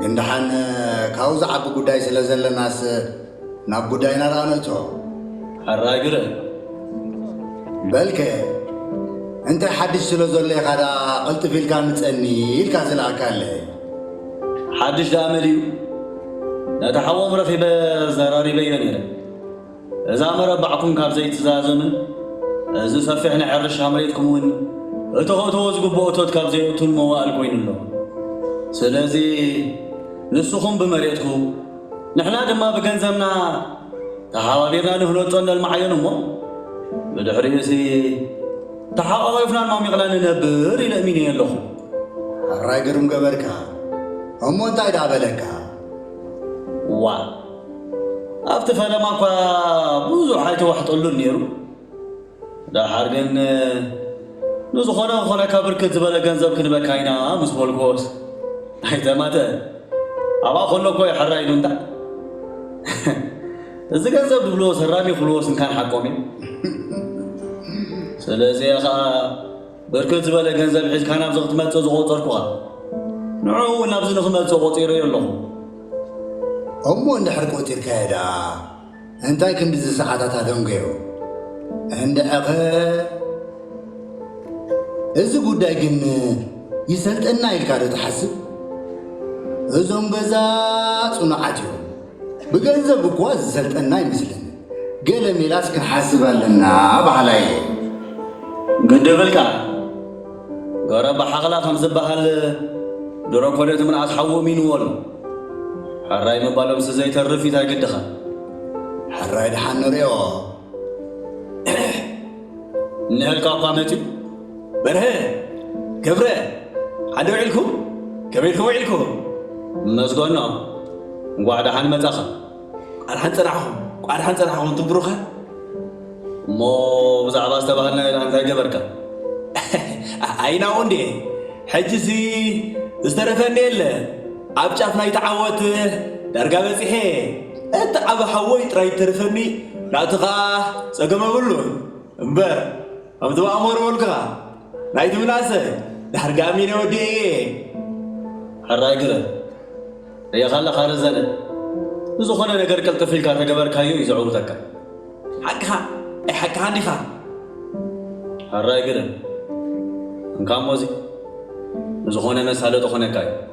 ግን ደሓን ካብኡ ዝዓቢ ጉዳይ ስለ ዘለናስ ናብ ጉዳይና ደኣ ነእቶ። ሕራይ ግረ። በልከ እንታይ ሓድሽ ስለ ዘሎ ኢኻ ደኣ ቅልጥፍ ኢልካ ምጸኒ ኢልካ ዝለኣካለ? ሓድሽ ደኣ መን እዩ? ነቲ ሓዎም ረኺበ ዘራሪበዮ ነይረ። እዛ መረባዕኩም ካብ ዘይትዛዘምን እዚ ሰፊሕ ናይ ሕርሻ መሬትኩም እውን እቶኸእተዎ ዝግብኦ እቶት ካብ ዘይእቱን መዋእል ኮይኑ ኣሎ። ስለዚ ንስኹም ብመሬትኩም ንሕና ድማ ብገንዘብና ተሓባቢርና ንህነፆን ነልማዓዮን እሞ ብድሕሪኡሲ ተሓቛቒፍናን ማሚቕናን ንነብር ኢለ እሚነዮ ኣለኹ። ሕራይ ግርም ገበርካ እሞ እንታይ ደኣ በለካ። ዋእ! ኣብቲ ፈለማ እኳ ብዙሕ ኣይተዋሕጠሉን ነይሩ። ደሓር ግን ንዝኾነ ክኾነካ ብርክት ዝበለ ገንዘብ ክንበካ ኢና ምስ በልኩዎስ ኣይተማተ ኣብኣ ከሎ እኮ እዩ ሕራይ ኢሉ እንታ እዚ ገንዘብ ድብልዎስ ህራሚ ክብልዎስ እንካን ሓቆም እዮም ስለዚ ከኣ ብርክት ዝበለ ገንዘብ ሒዝካ ናብዚ ክትመጽእ ዝቖጸርኩኻ፣ ንዕኡ እውን ናብዚ ንኽመጽእ ቆጺረዮ ኣለኹ። እሞ እንድሕር ቆጺርካዮ ደኣ እንታይ ክንድዚ ሰዓታት ኣደንጎዮ? እንድሕርኸ እዚ ጉዳይ ግን ይሰልጠና ኢልካዶ ትሓስብ? እዞም ገዛ ጽኑዓት እዮም። ብገንዘብ እኳ ዝሰልጠና ኣይመስለንን ገለ ሜላስ ክንሓስብ ኣለና በሃላይ እየ። ግድብልካ ገረ ብሓኽላ ከም ዝበሃል ድሮ እኮ ነቲ ምንኣስ ሓዊ እሚንዎ ኣሎ። ሕራይ ምባሎምሲ ዘይተርፍ እዩ ታይ ግድኻ። ሕራይ ደሓን ንሪኦ። እኒሀልካ እኳ መፂኡ። በርሀ ገብረ ሓደ ውዒልኩም ከመይ ኢልኩም ውዒልኩም እነስጎኖ እንኳዕ ደሓን መጻኻ ቋርሓን ጽናሕኹም ቋርሓን ጽናሕኹም እንቱም ብሩኻን እሞ ብዛዕባ ዝተባሃልናዮ ደኣ እንታይ ገበርካ ኣይናኡ እንዴ ሕጅሲ ዝተረፈ እንዴ የለ ኣብ ጫፍ ናይ ተዓወት ዳርጋ በጺሐ እቲ ዓብ ሓወይ ጥራይ ተርፈኒ ናቱ ኸኣ ጸገም የብሉን እምበር ከምቲ ባኣመረወልካ ናይቲ ምናሰ ድሕር ጋሚነ ወዲኤዬ። ሕራይ ግረ ርኤኻ ኣለኻ ረዘነ ንዝኾነ ነገር ቅልጥፍ ኢልካ ተገበርካዮ እዩ ዘዕውተካ። ሓቅኻ ናይ ሓቅኻ እንዲኻ። ሕራይ ግረ እንካሞዚ ንዝኾነ መሳለጢ ኮነካ እዩ።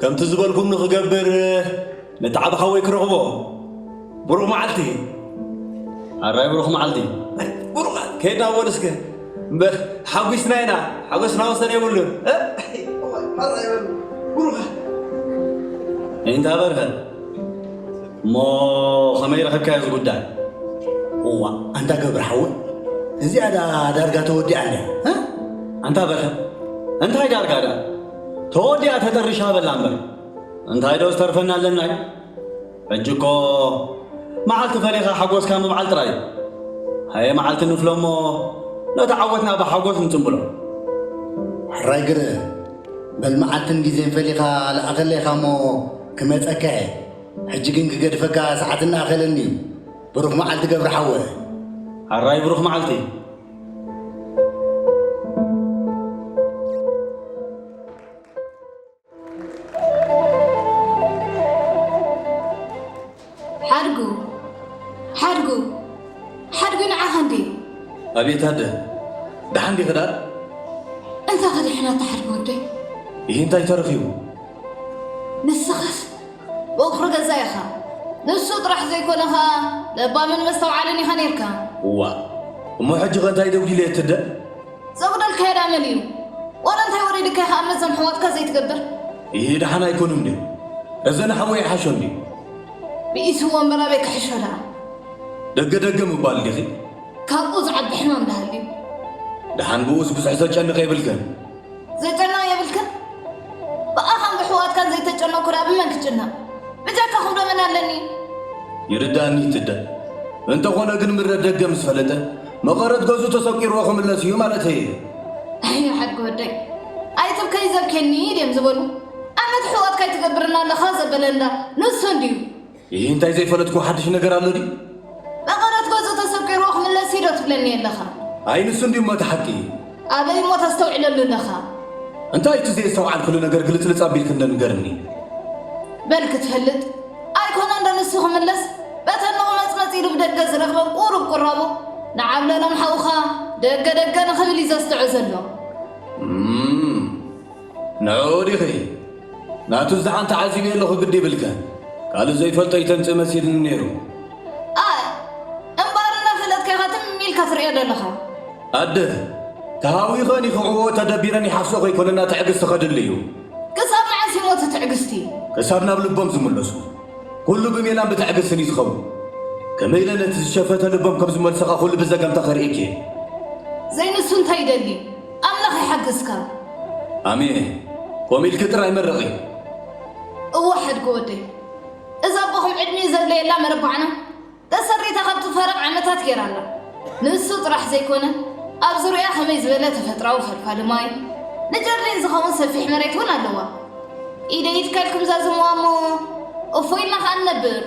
ከምቲ ዝበልኩም ንክገብር ነቲ ዓቢ ሓወይ ክረኽቦ ብሩኽ መዓልቲ ኣራይ ብሩኽ መዓልቲ ብሩኽ ከይድና ወል እስከ ሓጒስና ኢና ሓጎስና ወሰን የብሉን ብሩኽ እንታ በርሀ እሞ ከመይ ረኽብካዮ እዚ ጉዳይ እዋ ኣንታ ገብረ ሓወ እዚኣ ዳርጋ ተወዲኣ ኣንታ በርሀ እንታይ ዳርጋ ዳ ተወዲኣ ተጠርሻ በላ እምበር እንታይ ዶ ዝተርፈና ኣለና እዩ ሕጂ እኮ መዓልቲ ፈሊኻ ሓጎስካ ምብዓል ጥራይ እዩ ሃየ መዓልቲ ንፍሎ እሞ ነቲ ዓወትና ብሓጎስ ንጽምብሎ ሕራይ ግረ በል መዓልትን ግዜን ፈሊኻ ለኣኸለይ ኢኻ እሞ ክመጸካ እየ ሕጂ ግን ክገድፈካ ሰዓት እናኣኸለኒ እዩ ብሩኽ መዓልቲ ገብረ ሓወ። ኣራይ ብሩኽ መዓልቲ። ሓድጉ ሓድጉ ሓድጉ ንዓኻ እንዲ ኣቤት ኣደ ደሓን ዲኺ ዳር እንታይ ከድሕና ተሓድጎ ወደይ ይህ እንታይ ተረኺቡ ንስኻስ ቦኽሪ ገዛ ኢኻ ንሱ ጥራሕ ዘይኮነ ኸኣ ለባምን መስተውዓልን ኢኻ ኔርካ። እዋእ እሞ ሕጂ ከ እንታይ ደጊለ እየ እትደ? ዘጉደልካዮ ድኣ መን እዩ? ዋላ እንታይ ወሪድካ ኢኻ እምነት ዞም ኣሕዋትካ ዘይትገብር? ኢሂ ድሓን ኣይኮኑን ድዮም እዘን ሓወይ ይሓሾን ድዩ? ብኢስዎ እምበር ኣበይ ክሕሾ ድኣ። ደገ ደገ ምባል ዲኺ? ካብኡ ዝዓቢ ሕማም ድሃልዩ? ድሓን ብኡስ ብዙሕ ዘጨንቕ የብልክን። ዘጨና የብልክን ብኣኻን ብሕዋትካን ዘይተጨነኩ ዳ ብመን ክጭነቕ ብጃካ ክብሎ መን ኣለኒ ይርዳኒ እቲ እደ እንተኾነ ግን ምረት ደገ ምስ ፈለጠ መቐረት ገዙ ተሰቂርዎ ክምለስ እዩ ማለተይ እየ ኣይ ሓድጊ ወደይ ኣይትብከይ ዘብኬኒ ድም ዝበሉ ኣመት ሕዋትካ ይትገብርና ኣለኻ ዘበለ እንዳ ንሱ እንድዩ ይህ እንታይ ዘይፈለጥኩ ሓድሽ ነገር ኣሎ ድዩ? መቐረት ገጹ ተሰቂርዎ ክምለስ እዩ ዶ ትብለኒ ኣለኻ? ኣይ ንሱ እንድዩ እሞ እቲ ሓቂ። ኣበይ እሞ ተስተውዕለሉ ኣለኻ? እንታይ እዩ እቲ ዘየስተውዓልክሉ ነገር ግልጽልጽ ኣቢልኪ እንዶ ንገርኒ። በል ክትፈልጥ፣ ኣይኮነን ዶ ንሱ ክምለስ በተን መቕመጽመጺ ኢሉ ብደገ ዝረኽበን ቁሩብ ቁራቡ ንዓብለሎም ሓውኻ ደገ ደገ ንኽብል እዩ ዘስትዖ ዘሎ። እም! ንዕኡ ዲኺ ናቱ ዝዓን ተዓዚብዮ ኣለኹ ግዲ ይብልክን ካልእ ዘይፈልጦ ይተምጽእ መሲልኒ ነይሩ። ኣይ እምበኣር እንዳ ፈለጥካ ኢኻ ትም ኢልካ ትርእዮ ደለኻ። ኣደ ተሃዊኸን ይኽዕዎ ተደቢረን ይሓስኦ ከይኮነና ትዕግስቲ ከድሊ እዩ። ክሳብ መዓስ እዩሞ እቲ ትዕግስቲ? ክሳብ ናብ ልቦም ዝምለሱ። ኩሉ ብሜላን ብትዕግስትን እዩ ዝኸውን። ከመይ ኢለ ነቲ ዝሸፈተ ልቦም ከም ዝመልሶ ከኣ ኩሉ ብዘገምታ ከርእየኪ እየ። ዘይንሱ እንታይ ይደሊ? ኣምላኽ ይሓግዝካ። ኣሜን ከምኡ ኢልኪ ጥራይ መርቂ። እወ ሓድጊ ወደይ እዛ ኣቦኹም ዕድሚኡ ዘድለየላ መረባዕና ተሰሪታ ካብ ትፋረቕ ዓመታት ጌራ ኣላ። ንሱ ጥራሕ ዘይኮነ ኣብ ዙርያኣ ከመይ ዝበለ ተፈጥራዊ ፈልፋሊ ማይ፣ ንጀርዲን ዝኸውን ሰፊሕ መሬት ውን ኣለዋ። ኢደይ ይትከል ክምዛዝምዋ እሞ እፎይ ኢልና ከኣ ንነብር።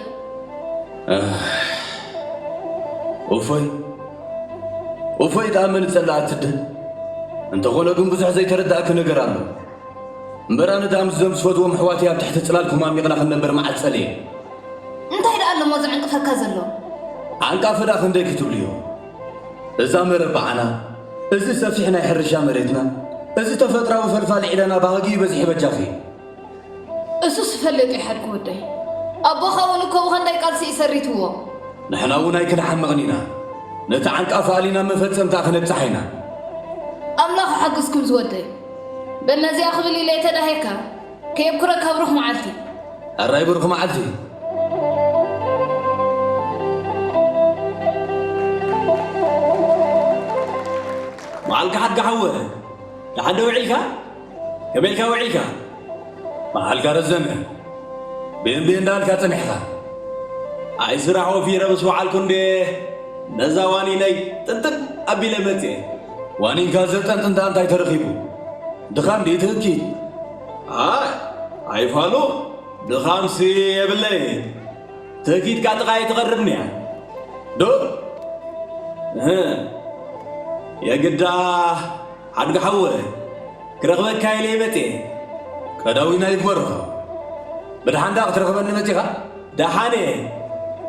እፎይ እፎይ ክኣመኒ ጸላ ኣትድል እንተኾነ ግን ብዙሕ ዘይተረዳእኪ ነገር ኣሎ እምበር ኣነ ድኣ ምስዞም ዝፈትዎም ኣሕዋትይ ኣብ ትሕቲ ጽላልኩም ኣሚቕና ክንነበር መዓት ጸልየ እንታይ ደኣ ኣለሞ ዝዕንቅፈካ ዘሎ ዓንቃፊ ደኣ ክንደይ ክትብልዮ እዛ መረባዓና እዚ ሰፊሕ ናይ ሕርሻ መሬትና እዚ ተፈጥራዊ ፈልፋሊ ዒላና ባህጊ ይበዝሒ በጃኺ እሱ ስፈለጥ እዩ ሓድኩ ወደይ ኣቦኻ እውን እኮ ብኸንዳይ ቃልሲ እዩ ሰሪትዎ። ንሕና እውን ኣይክንሓምቕን ኢና ነቲ ዓንቃፋ ኣሊና መፈጸምታ ክነብጻሓ ኢና። ኣምላኽ ይሓግዝኩም ዝወደይ በል ነዚኣ ክብል ኢለ ተዳሂርካ ከየብኩረካ ብሩኽ መዓልቲ። ሕራይ ብሩኽ መዓልቲ። መዓልካ ሓድጋ ሓወ ደሓን ዶ ውዒልካ? ከመይ ኢልካ ውዒልካ? መዓልካ ረዘመ። ብእምቢ እንዳልካ ጸኒሕካ። ኣይ ስራሕ ወፊረ ምስ ወዓልኩ እንድየ ነዛ ዋኒነይ ጥንጥን ኣቢለ መጺኤ። ዋኒንካ ዘጠንጥንታ እንታይ ተረኺቡ? ድኻም ድዩ እቲ ህግኪ? ኣይ ኣይፋሉ ድኻምሲ የብለይን። ትህኪትካ ጥቓይ ትቐርብኒያ። ዶ እህ የግዳ ሓድጊ ሓወ ክረኽበካ ኢለ መጽየ። ቀዳዊና ይግበሮ። ብድሓን ድኣ ክትረኽበኒ መጺኻ? ደሓን እየ።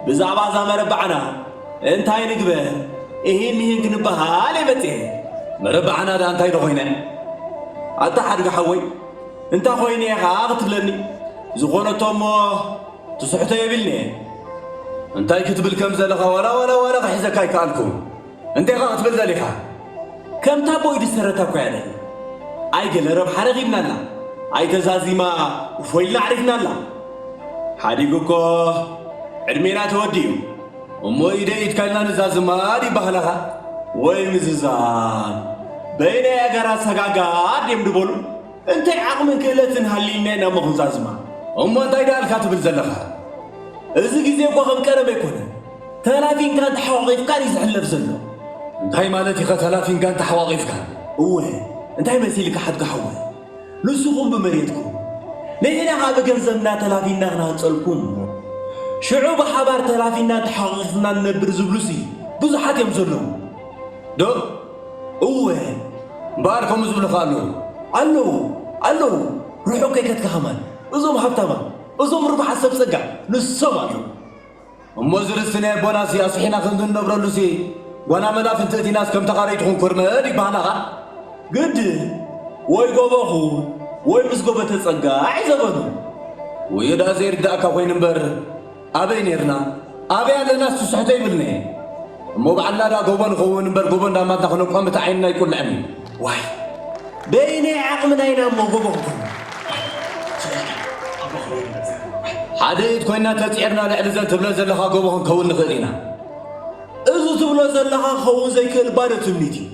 ብዛዕባ እዛ መረባዕና እንታይ ንግበር እሂን ምሂን ክንበሃል እየ መጽየ። መረባዕና ድኣ እንታይ ዶ ኮይነ? ኣታ ሓድጊ ሓወይ እንታይ ኮይነ እየ ኸኣ ክትብለኒ? ዝኾነቶ እሞ ትስሕቶ የብልንየ። እንታይ ክትብል ከም ዘለኻ ዋላ ዋላ ዋላ ክሕዘካ ኣይከኣልኩን። እንታይ ኢኻ ክትብል ደሊኻ? ከምቲ ኣቦይ ድሰረታ እኮ እያ ደላ ኣይ ገለ ረብሓ ረኺብና ኣላ ኣይ ተዛዚማ እፎይ ኢልና ኣዕሪፍና ኣላ ሓዲጉ እኮ ዕድሜና ተወዲኡ እሞ ኢደይ ኢድካ ኢልና ንዛዝማ ድዩ ኣባህላኻ ወይ ምዝዛም በይነይ ኣገራት ሰጋጋድ ድዮም ድበሉ እንታይ ዓቕምን ክእለትን ሃልዩና ኢና እሞ ክንዛዝማ እሞ እንታይ ድኣልካ ትብል ዘለኻ እዚ ግዜ እኮ ከም ቀደም ኣይኮነን ተላፊንካን ተሓቋቒፍካን እዩ ዝሕለፍ ዘሎ። እንታይ ማለት ኢኻ ተላፊንካን ተሓቋቒፍካን? እወ እንታይ መሲልካ ሓድጋ ሓወይ ንስኹም ብመሬትኩም ንሕና ከኣ ብገንዘብና ተላፊንና ክንሃንጸልኩም እሞ ሽዑ ብሓባር ተላፊንናን ተሓቋቒፍናን ንነብር ዝብሉሲ ብዙሓት እዮም ዘለዉ ዶ? እወ እምበኣር ከምኡ ዝብሉ ከ ኣለዉ? ኣለዉ ኣለዉ ርሑቕ ከይከድካ ከማን እዞም ሃብታማት እዞም ርቡሓት ሰብ ጸጋ ንሶም ኣለዉ። እሞ እዚ ርስቲ ናይ ኣቦናሲ ኣስሒና ከምዚ እንነብረሉሲ ጓና መላፍንቲ እቲናስ ከም ተኻረይ ትኹን ኮርመድ ይበሃላኻ ግድ ወይ ጎቦ ኹን ወይ ምስ ጎቦ ተጸጋዕ ዘበኑ ውዩ ደኣ ዘይርዳእካ ኮይኑ እምበር ኣበይ ኔርና ኣበይ ኣለናስ ትስሕቶ ይብልኒ እሞ በዓል ላዳ ጎቦ ንኸውን እምበር ጎቦ እንዳማትና ክነብዖ ምእቲ ዓይንና ኣይቁልዕን እዩ ዋይ በየናይ ዓቕምና ኢና እሞ ጎቦ ክንከውን ሓደ ኢድ ኮይና ተፅዒርና ልዕሊ ዘን ትብለን ዘለኻ ጎቦ ክንከውን ንኽእል ኢና እዚ ትብሎ ዘለኻ ክኸውን ዘይክእል ባዶ ትምኒት እዩ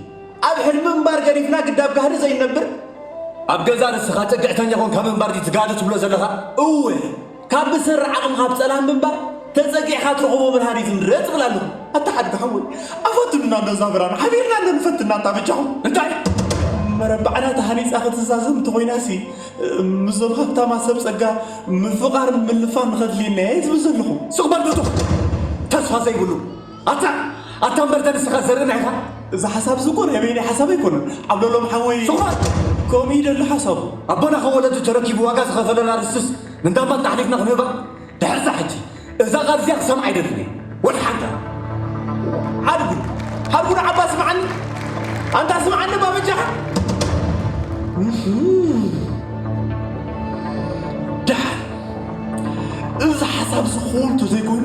ኣብ ሕልሚ እምባር ገዲፍና ግዳብ ጋህዲ ዘይነብር ኣብ ገዛ ርስኻ ፅግዕተኛ ኮንካ ምንባር ድዩ ትጋዲ ትብሎ ዘለኻ እወ ካብ ብሰሪ ዓቕምኻ ብጸላም ምንባር ተጸጊዕኻ ትረኽቦ ብርሃን እዩ ዝምረጽ እብል ኣለኹ። ኣታ ሓድጊ ሓወይ ኣፈትኑና በዛ ብርሃን ሓቢርና እንዶ ንፈትና ኣንታ በጃኹም እንታይ መረባዕና ተሃኒጻ ክትዛዘም እንተኾይናሲ ምስዞም ሃብታማት ሰብ ጸጋ ምፍቓርን ምልፋን ንኸድልየና እየ ዝብል ዘለኹ። ስቕ በል ዶቶ ተስፋ ዘይብሉ። ኣታ ኣታ እምበርተ ንስኻ ዘርእና ኢኻ እዚ ሓሳብ እዚ እኮ ናይ በይነይ ሓሳብ ኣይኮነን ዓብለሎም ሓወይ ስኹራት ከምኡ እዩ ደሎ ሓሳቡ ኣቦና ካብ ወለዱ ተረኪቡ ዋጋ ዝኸፈለና ርስትስ ንዳባት ኣሕሊፍና ክንህባ ድሕርዛ ሕጂ እዛ ቃል እዚኣ ክሰምዓ ኣይደልን እየ ወላ ሓንታ ሓድጉ ሓድጉ ንዓባ ስምዓኒ ኣንታ ስምዓኒ እባ በጃኻ ድሓር እዚ ሓሳብ እዚ ክኸውን ተዘይኮይኑ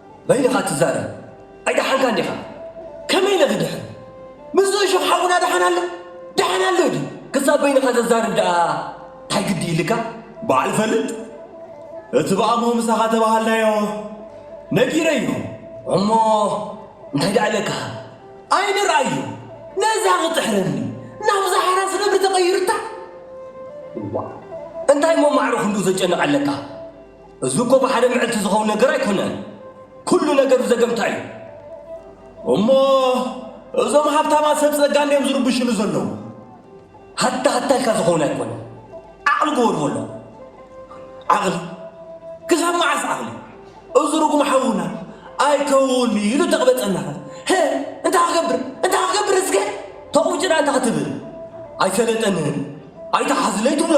መን ኢኻ ትዛረብ ኣይደሓንካን ዲኻ ከመይ ኢለ ክድሕን ምስዚ እሾኽ ሓውና ደሓን ኣሎ ደሓን ኣሎ ድዩ ክሳብ በይንኻ ዘዛርብ ደኣ ታይ ግዲ ይልካ በዓል ፈልጥ እቲ ብኣሞ ምሳኻ ተባሃልናዮ ነጊረዮ እሞ እንታይ ደኣ ኢለካ ኣይንርኣዮ ነዛ ክጥሕረኒ ናብዛ ሓራስ ነብሪ ተቐይርታ እዋ እንታይ እሞ ማዕረ ክንዱ ዘጨንቕ ኣለካ እዚ እኮ ብሓደ ምዕልቲ ዝኸውን ነገር ኣይኮነን። ኩሉ ነገር ዘገምታ እዩ። እሞ እዞም ሃብታማ ሰብ ጸጋ እንዲዮም ዝርብሽሉ ዘለዉ። ሃታ ሃታ ኢልካ ዝኸውን ኣይኮነ። ዓቕሊ ግበሩ በሎ። ዓቕሊ ክሳብ መዓስ ዓቕሊ? እዚ ርጉም ሓውና ኣይከውን ኢሉ ተቕበጸና ኸ እንታይ ክገብር እንታይ ክገብር እስከ ተቑጭና እንታይ ክትብል ኣይሰለጠንን ኣይተሓዝለይ ትብሎ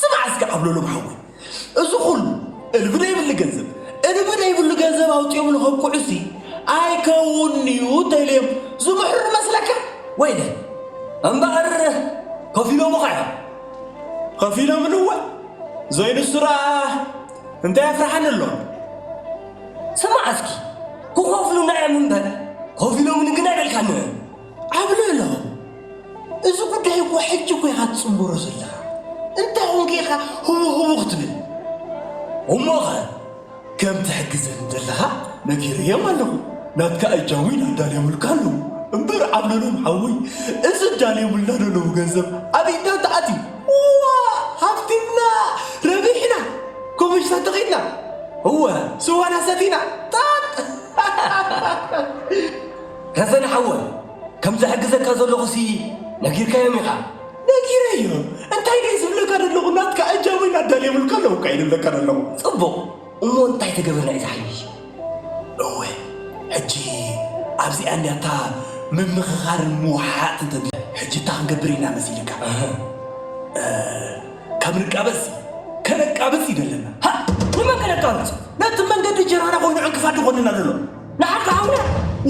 ስማዕ እስከ ዓብለሎም ሓወይ እዚ ኩሉ እልቢ ዘይብሉ ገንዘብ እልቢ ዘይብሉ ገንዘብ ኣውጺኦም ንኸብቅዑሲ ኣይከውንዩ ተልዮም ዝምሕሩ መስለካ ወይለ እምበኣር ከፊሎምኻ እዮም ከፊሎምን እወ ዘይንሱራ እንታይ ኣፍርሓኒ ኣሎ ስማዕ እስኪ ክኸፍሉና እዮም እምበር ከፊሎምን ግን ኣይበልካን ዓብለሎ እዚ ጉዳይ እኮ ሕጂ እኮ ኢኻ ትጽንበሮ ዘለኻ እንታይ ኮንክ ኢኻ ህቡ ህቡ ክትብል እሞኸ ከም ትሕግዘኒ ዘለኻ ነጊረዮም ኣለኹ ናትካ እጃም'ውን ኣዳልዮምልካ ኣለዉ እምበር ዓብለሎ ሓወይ እዚ ኣዳልዮምልና ዘለዉ ገንዘብ ኣብ ኢድና እንተኣትዩ ዋእ ሃብቲምና ረቢሕና ኮመሽታ ተኺልና እወ ስዋና ሰቲና ጣጥ ረዘነ ሓወይ ከም ዝሕግዘካ ዘለኹ ሲ ነጊርካዮም ኢኻ። ነጊረዮ እንታይ ደዩ ዝብለካ ደለኹ ናትካ ኣጃቦይ ናዳልየምልካ ኣለኹካ ኢዩ ድብለካ ደለኹ። ጽቡቕ እሞ እንታይ ተገብር ናይዛ ሓይልሽ። እወ ሕጂ ኣብዚኣ እንድያ እታ ምምኽኻርን ምውሓሓጥን ተድሊ። ሕጂ እታ ክንገብር ኢና መሲልካ። እህ ካብ ንቃበጽሲ ከነቃብጽ እዩ ደለና። ሃእ ንመን ከነቃብጽ ነቲ መንገዲ ጀራና ኮይኑ ዕንቅፋት ድኾነና ደሎ። ንዓካ ሓውና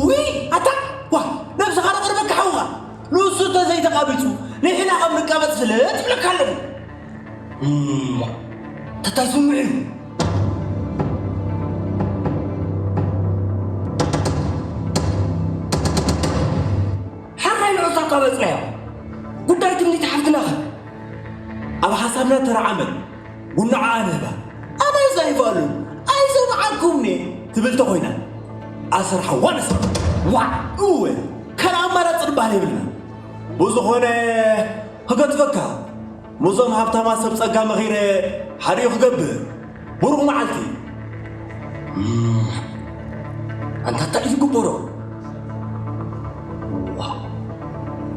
ውይ ኣታ ዋ ነብስካ ንቅርበካ ሓውካ ንሱ ተዘይተቃቢፁ ንሕና ከም ንቃበፅ ፍለጥ ይብለካ ኣለኹ እሞ ተታይ ስምዑ እዩ ሓራይ ንዑስ ኣቃበፅናዮ ጉዳይ ትምኒት ሓፍትና ከ ኣብ ሓሳብና ተረዓመ ጉንዓ ኣነባ ኣነ ዛይባሉ ኣይሰምዓኩምኒ ትብል ተኾይና ኣሰር ሓዋ ነስራ ዋዕ እወ ካልእ ኣማራፂ ድበሃል የብልና ብዝኾነ ክገድፈካ ምስዞም ሃብታማ ሰብ ጸጋ መኺረ ሓደኡ ክገብር ብሩኽ መዓልቲ ኣንታ እንታይ እዩ ዝግበሮ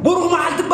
ብሩኽ መዓልቲ እባ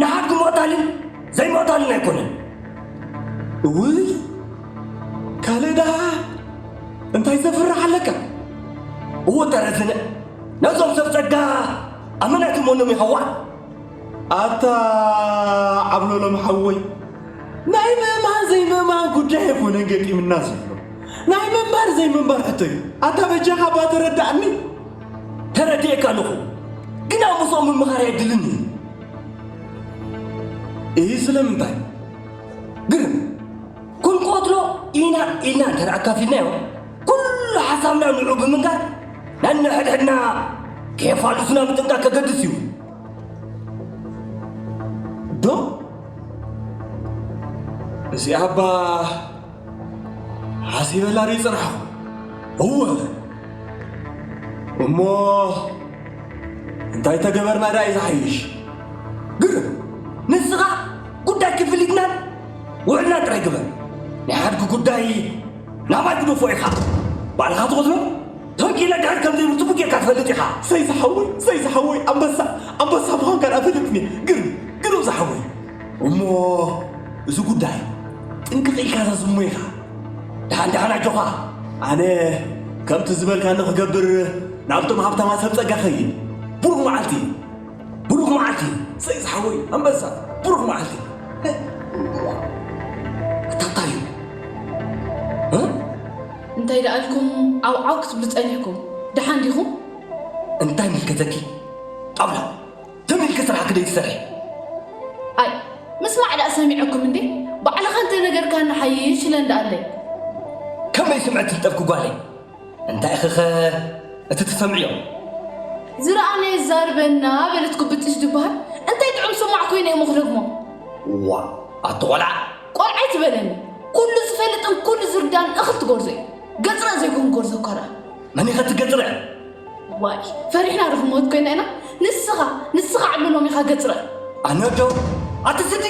ንሓድጊ ምቕታልን ዘይምቕታልን ኣይኮነን። እውይ ካልእ ደኣ እንታይ ዘፍርሕ ኣለካ? እወ ተረዝነ ነዞም ሰብ ጸጋ ኣብ መን ኣይትመኖም ኢኻ ዋእ ኣታ ዓብሎሎም ሓወይ ናይ ምእማን ዘይምእማን ጉዳይ ኣይኮነን ገጢምና ዘሎ ናይ ምንባር ዘይምንባር ሕቶ እዩ ኣታ በጃኻ እባ ተረዳእኒ ተረዲኤካ ኣለኹ ግና ምስኦም ምምኻር የድልን እዩ እዚ ስለምንታይ ግን ክንቆትሎ ኢና ኢልና እንተ ኣካፊልናዮ ኩሉ ሓሳብና ንዑ ብምንጋር ነንሕድሕድና ከየፋልሱና ምጥንቃቅ ከገድስ እዩ ዶ እዚኣ እባ ሓሲበላ ርዩ ፅናሓ እወ እሞ እንታይ ተገበርና ዳዩ ዝሓይሽ ግርም ንስኻ ጉዳይ ክፍሊትናን ውዕልና ጥራይ ግበር ናይ ሓድጊ ጉዳይ ናባይ ክደፎ ኢኻ ባልኻ ትቕትሎ ተንኪለ ድሕር ከም ዘይብርትቡ ጌርካ ትፈልጥ ኢኻ ሰይ ዝሓወይ ሰይ ዝሓወይ ኣንበሳ ኣንበሳ ምዃንካ ዳኣ ፈለጥኒ ግርም ግርም ዝሓወይ እሞ እዚ ጉዳይ ጥንቅቕ ኢልካ ዘዝሞ ኢኻ ድሓን ድሓን ኣጆኻ ኣነ ከምቲ ዝበልካኒ ክገብር ናብቶም ሃብታማ ሰብ ጸጋ ኸይድ ብሩኽ መዓልቲ ብሩኽ መዓልቲ ሰይ ዝሓወይ ኣንበሳ ብሩኽ መዓልቲ ክታታይ እንታይ ደኣ ኢልኩም ዓውዓው ክትብሉ ጸኒሕኩም ደሓን ዲኹም እንታይ ምልከተኪ ጣውላ ትም ኢልኪ ስራሕ ክደይ ትሰርሒ። ኣይ ምስማዕ ደኣ ሰሚዐኩም እንዴ ባዕልኻ እንተነገርካኒ ሓይሽ ኢለ እንዳኣለይ። ከመይ ስምዒት ትፍጠርኪ ጓለይ? እንታይ ኢኺኸ እቲ ትሰምዕዮ? ዝረኣናዮ የዛርበና በለት ጉብጥሽ ድበሃል እንታይ ጥዑም ሰማዕ ኮይነ እየ'ሞ ክደግሞ። እዋእ ኣቲ ቆልዓ! ቆልዓ ኣይትበለኒ ኩሉ ዝፈልጥን ኩሉ ዝርዳእን እኽል ትጎርዞ እዩ። ገጽረእ ዘይኮንኩ ጎርዞ እኳ ደኣ። መን ኢኸ እቲ ገጽረእ? ዋይ ፈሪሕና ዶ ክንሞት ኮይና ኢና ንስኻ ንስኻ ዕሉ ሎም ኢኻ ገጽረ ኣነ ዶ ኣትስቲ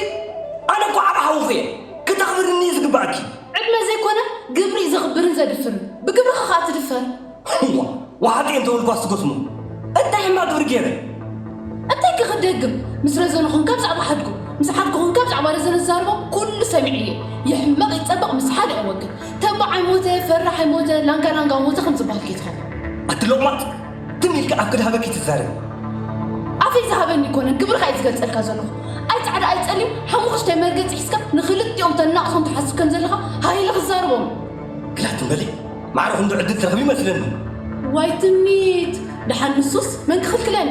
ኣነ እኮ ዓብ ሓውኹ እየ ክተኽብርኒ እዩ ዝግባእኪ ዕድመ ዘይኮነ ግብሪ እዩ ዘኽብርን ዘድፍርን ብግብርኻ ከዓ ትድፈር እዋ ወሓጢ እየ እንተበልኳስ ትጎስሙ እንታይ ሕማ ግብሪ ገይረ እንታይ ክክደግም ምስ ረዘኑ ኮንካ ብዛዕባ ሓድጉ ምስ ሓድጉ ኮንካ ብዛዕባ ረዘነ ዝዛርቦ ኩሉ ሰሚዐ እየ ይሕመቕ ይጸብቕ ምስ ሓሊቕ ወግን ተባዕ ኣይሞተ ፈራሕ ኣይሞተ ላንጋ ላንጋ ሞተ ከም ዝብሃል ከይትኸውን። ኣቲ ሎቕማጽ ትም ኢልካ ኣብ ክድሃበኪ ትዛረቢ። ኣፈይ ዝሃበኒ ኣይኮነን ክብርኻ እየ ዝገልጸልካ ዘለኹ ኣይ ጻዕዳ ኣይ ጸሊም ሓሙኹሽታይ መርገጺ ሒዝካ ንኽልቲኦም ተናቕሶም ትሓስብ ከም ዘለኻ ሃህ ኢልኺ ዝዛረቦም። ግዳ ትም በሊ ማዕረ ክንዱ ዕድል ትረኽቢ ይመስለኒ። ዋይ ትምኒት ድሓን ንሱስ መን ክኽልክለኒ።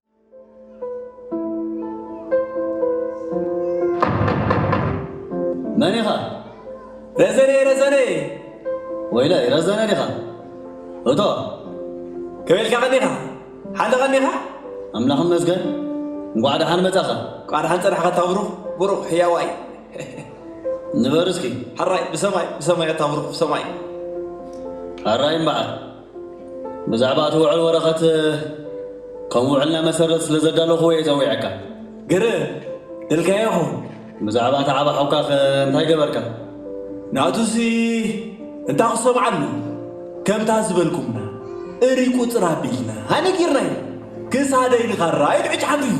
መን ኢኻ? ረዘነ ረዘነ ወይለይ ረዘነ ዲኻ? እቶ ከበልካ ቀኒኻ ሓለ ቀኒኻ ኣምላኽ ይመስገን እንኳዕ ደሓን መጻኻ እንኳዕ ደሓን ጸናሕካ እታ ብሩኽ ብሩኽ ሕያዋይ ንበር እስኪ ሕራይ ብሰማይ ብሰማይ እታ ብሩኽ ብሰማይ ሕራይ እምበዓር ብዛዕባ እቲ ውዕል ወረቐት ከም ውዕልና መሰረት ስለ ዘዳለኹዎ እየ ጸዊዐካ። ግር እልካዮ ይኸውን። ብዛዕባ እቲ ዓቢ ሓውካኸ እንታይ ገበርካ? ናቱሲ እንታይ ክሰምዓሉ፣ ከምታ ዝበልኩምና እርይ ቁጽር ኣቢልና ኣነጊርናዮ፣ ክሳደይ ንኻራ ኢሉ ዕጭ ሓንፊፉ።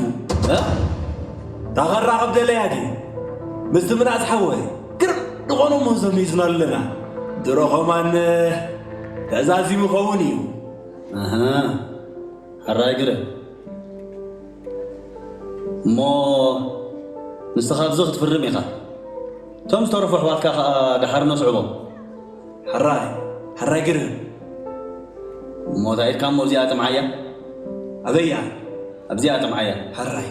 እታ ኻራ ክብደለያ ድየ? ምስቲ ምናእስ ሓወይ? ግርም ንኾኖ ሞዞም ሒዝና ኣለና ድሮ ኸማን ተዛዚሙ ኸውን እዩ ኣሃ ሕራይ ግርም እሞ ንስኻ ኣብዚ ክትፍርም ኢኻ እቶም ዝተረፉ ኣሕዋትካ ኸኣ ደሓር ነስዕቦም ሕራይ ሕራይ ግርም እሞ እንታይ ኢልካ እሞ እዚኣ ጥምዓያ ኣበያ ኣብዚኣ ጥምዓያ ሕራይ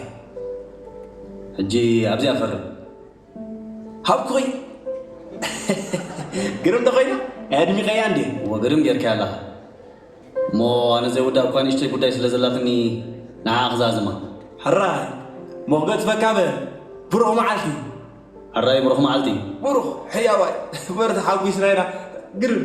ሕጂ ኣብዚኣ ፈርም። ሃብኩኺ ግርም ተኮይና ኣድሚቀያ እንዴ እሞ ግርም ጌርካያ ኣለኻ እሞ ኣነ ዘይውዳእ እኳ ንእሽተይ ጉዳይ ስለ ዘላትኒ ንዓ ክዛዝማ ሕራይ እሞ ክገጽፈካ በ ብሩኽ መዓልቲ ሕራይ ብሩኽ መዓልቲ ብሩኽ ሕያዋይ በርታ ሓጒስና ኢና ግርም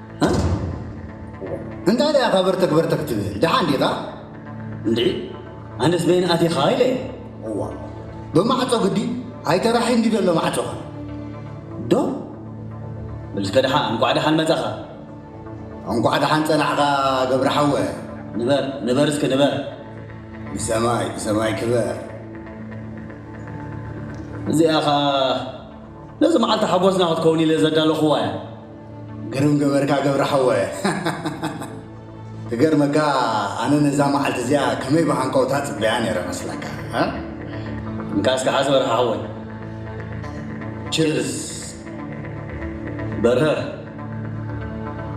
እንታይ ደኣ ኢኻ በርተክ በርተክ ትብል ደሓን ዲኻ? እንድዒ ኣነስ በየን ኣቲኻ ኢለ እዋ ብማዕጾ ግዲ ኣይተራሒ እንዲ ዘሎ ማዕጾኻ ዶ ብልስከ ደሓ እንቋዕ ደሓን መጻኻ እንቋዕ ደሓን ጸናሕኻ ገብረ ሓወ ንበር ንበር እስከ ንበር ብሰማይ ብሰማይ ክበር እዚኣ ኸኣ ነዚ መዓልቲ ሓጎስና ክትከውን ኢለ ዘዳለኹዋ እያ ግርም ገበርካ ገብረ ሓወ ክገርመካ ኣነ ነዛ መዓልቲ እዚኣ ከመይ ብሃንቀውታ ጽበያ ነይረ መስለካ እንካስ ከዓ ዝበርሃ ሓወይ ችርስ በርሀ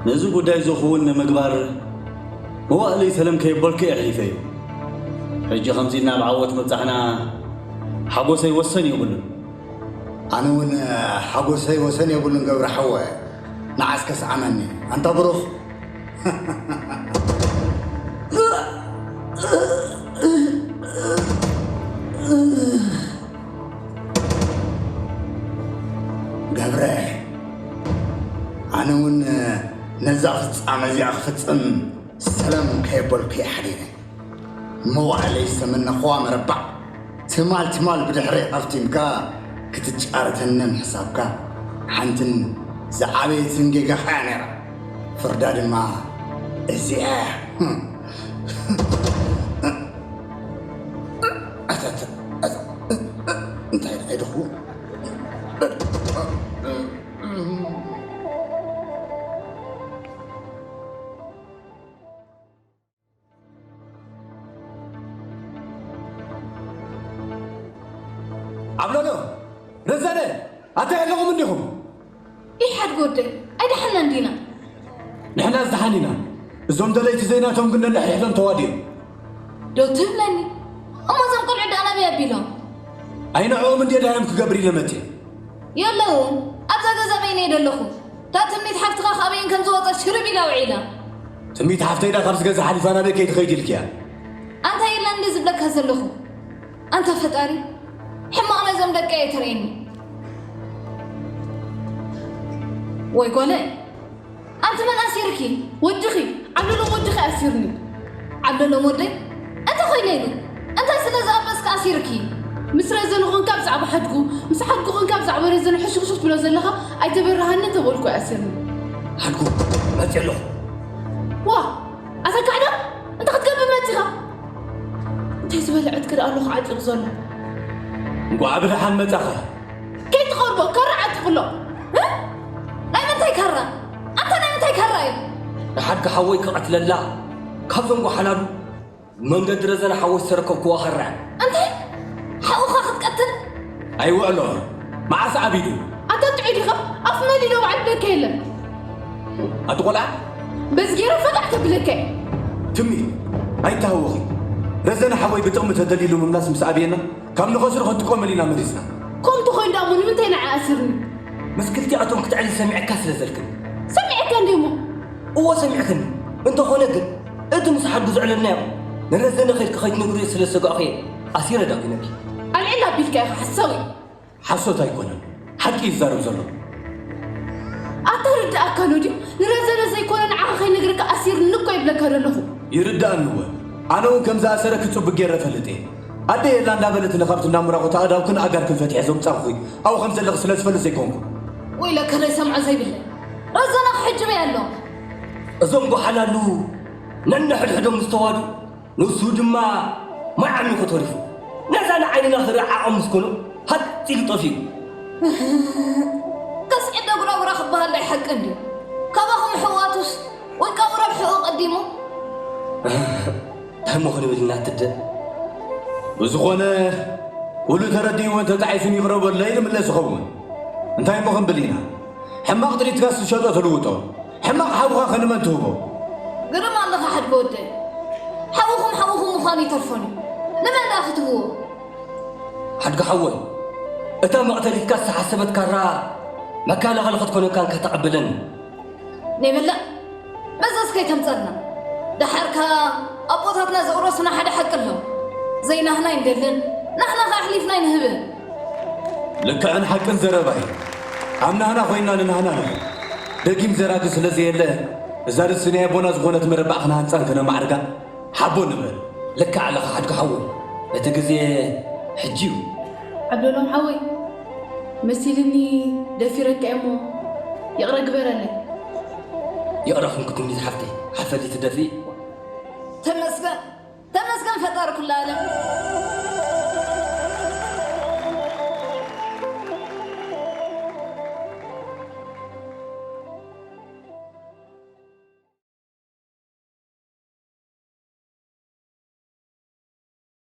ነዚ ጉዳይ ዝኸውን ንምግባር መዋእለይ ሰለም ከየበልኩ እየ ሒፈዩ ሕጂ ከምዚ ናብ ዓወት ምብጻሕና ሓጎሰይ ወሰን የብሉን ኣነ ውን ሓጎሰይ ወሰን የብሉን ገብረ ሓወ ንዓስ ከስዓመኒ ኣንታ ብሩኽ ገብረ ኣነ ውን ነዛ ፍጻመ እዚኣ ክፍጽም ሰለም ከየበልኩ እየ ሓዲረ መዋእለይ ዝተመነኹዋ መረባዕ ትማል ትማል ብድሕረይ ኣፍቲምካ ክትጫረተኒ ምሕሳብካ ሓንትን ዝዓበየትን ጌጋኻ እያ ነይራ። ፍርዳ ድማ እዚኣ እንታይ ደኣ ይደኹ ዓብለሎ ረዘነ ኣታይ ኣለኹም እንዲኹም ኢሓድ ጎደይ ኣይደሓና እንዲና ንሕና ዝደሓን ኢና እዞም ደለይቲ ዘይናቶም ግን ነንሕድሕዶም ተዋዲኦም ዶ ትብለኒ እሞ እዞም ቆልዑ ደኣ ናበይ ኣቢሎም ኣይንዕኦም እንዴ ዳዮም ክገብር ኢለ መፅየ የለዉ ኣብዛ ገዛ በይነይ ደለኹ እታ ትምኒት ሓፍትኻ ካበይን ከም ዝወፀት ሽርብ ኢላ ውዒላ ትምኒት ሓፍተይ ዳ ካብዚ ገዛ ሓሊፋ ናበይ ከይትኸይድ ኢልክያ? ኣንታይ ኢላ እንድየ ዝብለካ ዘለኹ? ኣንታ ፈጣሪ ሕማቕ ነዞም ደቀይ ኣይተርእየኒ። ወይ ጓለይ ኣንቲ መን ኣሲርኪ? ወድኺ ዓብለሎም ወድኺ ኣሲሩኒ። ዓብለሎም ወደይ እንተኾይነ ኢሉ እንታይ ስለ ዝኣበስኪ ኣሲሩኪ? ምስ ረዘኑ ኮንካ ብዛዕባ ሓድጉ፣ ምስ ሓድጉ ኮንካ ብዛዕባ ረዘኑ ሕሹኽሹኽ ትብሎ ዘለኻ ኣይተበረሃንን ተበልኩ ኣሲርኒ። ሓድጉ መጺእ ኣለኹ። ዋእ ኣታ ካሕዳም እንታይ ክትገብር መጺኻ? እንታይ ዝበለ ዕጥቂ ደኣ ኣሎ ክዓጢቑ ዘሎ? እንቋዕ ብደሓን መጻኻ። ከይትቐርቦ ካራ ዓጢቑ'ሎ። ህ! ናይ ምንታይ ካራ? ኣንታ ናይ ምንታይ ካራ እዩ? ንሓድጊ ሓወይ ክቐትለላ? ካብዞም ጓሓላሉ መንገዲ ረዘነ ሓወይ ዝተረከብክዎ ካራ እዩ። እንታይ ሓውኻ ክትቀትል? ኣይውዕሎ መዓስ ዓቢዱ? ኣታ ጥዑይ ዲኻ ኣፍ መሊሎ በዓል ብለካ የለን። ኣቲ ቆልዓ በዚ ጌረ ፈታሕ ከብለካ እየ። ትሚ ኣይተሃወኺ ረዘነ ሓወይ ብጥቕሚ ተደሊሉ ምምላስ ምስ ኣብየና ካብ ንኸስሩ ከትቆመል ኢና መሪጽና። ኮምቲ ኮይኑ ደኣ እሞ ንምንታይ ንዓይ ኣስርኒ? ምስ ክልቲኣቶም ክትዕሪ ሰሚዐካ ስለ ዘልክን። ሰሚዐካ እንድየ እሞ እወ ሰሚዕክኒ፣ እንተኾነ ግን እቲ ምስ ሓዱ ዘዕለልናዮ ንረዘነ ከድኪ ከይትነግርዮ ስለ ዝሰጋእኹ እየ ኣሲረ ዳጒነኪ። ኣልዒል ኣቢልካ ኢኻ ሓሳዊ። ሓሶት ኣይኮነን ሓቂ እዩ ዝዛረብ ዘሎ። ኣታ ርድኣካ ኣሎ ድዩ ንረዘነ ዘይኮነ ንዓኻ ከይነግረካ ኣሲርኒ እኮ ይብለካ ዘለኹ። ይርድኣኒ እወ ኣነ ውን ከም ዝኣሰረኪ ጽቡቅ ጌረ እፈልጥ እየ። ኣደይ የላ እንዳበለትኒ ካብቲ እንዳ ሙራቑት ኣእዳውክን ኣእጋርክን ፈቲሐ ዘውጻእኩኺ ኣብኡ ከም ዘለኺ ስለ ዝፈልጥ ዘይኮንኩ። ወይለከ ዘይሰምዖ ዘይብለይ። ረዘና ክሕጅበ ኣሎ። እዞም ጓሓላሉ ነንሕድሕዶም ዝተዋዱ ንሱ ድማ ማይ ዓሚኹ ተሪፉ ነዛ ንዓይንና ክርኢ ዓቕሚ ምስ ኮኖ ሃጽ ኢሉ ጠፊኡ። ከስዒድ ዶ ጉራጉራ ክበሃል ዳይ ሓቂ እንድዩ ካባኹም ኣሕዋቱስ ውልቃዊ ረብሕኡ ቀዲሙ። ታይ እሞ ክንብል እና ትደ። ብዝኾነ ኩሉ ተረዲእዎን ተጣዒሱን ይቕረ በለይ ንምለስ ይኸውን። እንታይ እሞ ክንብል ኢና። ሕማቕ ጥሪትካስ ዝሸጦ ትልውጦ ሕማቕ ሓውኻ ከ ንመን ትህቦ? ግርም ኣለኻ ሓድጊ ወደይ ሓውኹም ሓውኹም ምዃኑ ይተርፎን እዩ ንመን ደኣ ክትህብዎ? ሓድጊ ሓወይ እታ መቕተሊትካ ዝተሓሰበት ካራ መከላኸሊ ክትኮነካ እንካ ተቐበለኒ። ነይ በላዕ መዘዝ ከይተምጸልና ደሓር ከኣ ኣቦታትና ዘውረሱና ሓደ ሓቂ ኣሎ ዘይናህና ኣይንደልን ናህና ከኣ ኣሕሊፍና ኣይንህብን። ልክዕን ሓቅን ዘረባ እዩ። ኣብ ናህና ኮይንና ንናህና ንኹን። ደጊም ዘራቲ ስለ ዘየለ እዛ ርእሲ ናይ ኣቦና ዝኾነት መረባዕ ክነሃንጻን ክነማዕርጋን ሓቦ ንበል። ልክዕ ኣለኻ ሓድጉ ሓወይ እቲ ግዜ ሕጂ እዩ። ዓብደሎም ሓወይ መሲልኒ ደፊረካ እየ እሞ ይቕረ ግበረለይ። ይቕረ ኩንኪ ኩንኪ ዝሓፍተይ ሓፈቲ ትደፍኢ። ተመስገን ተመስገን ፈጣሪ ኩሉ ኣለም።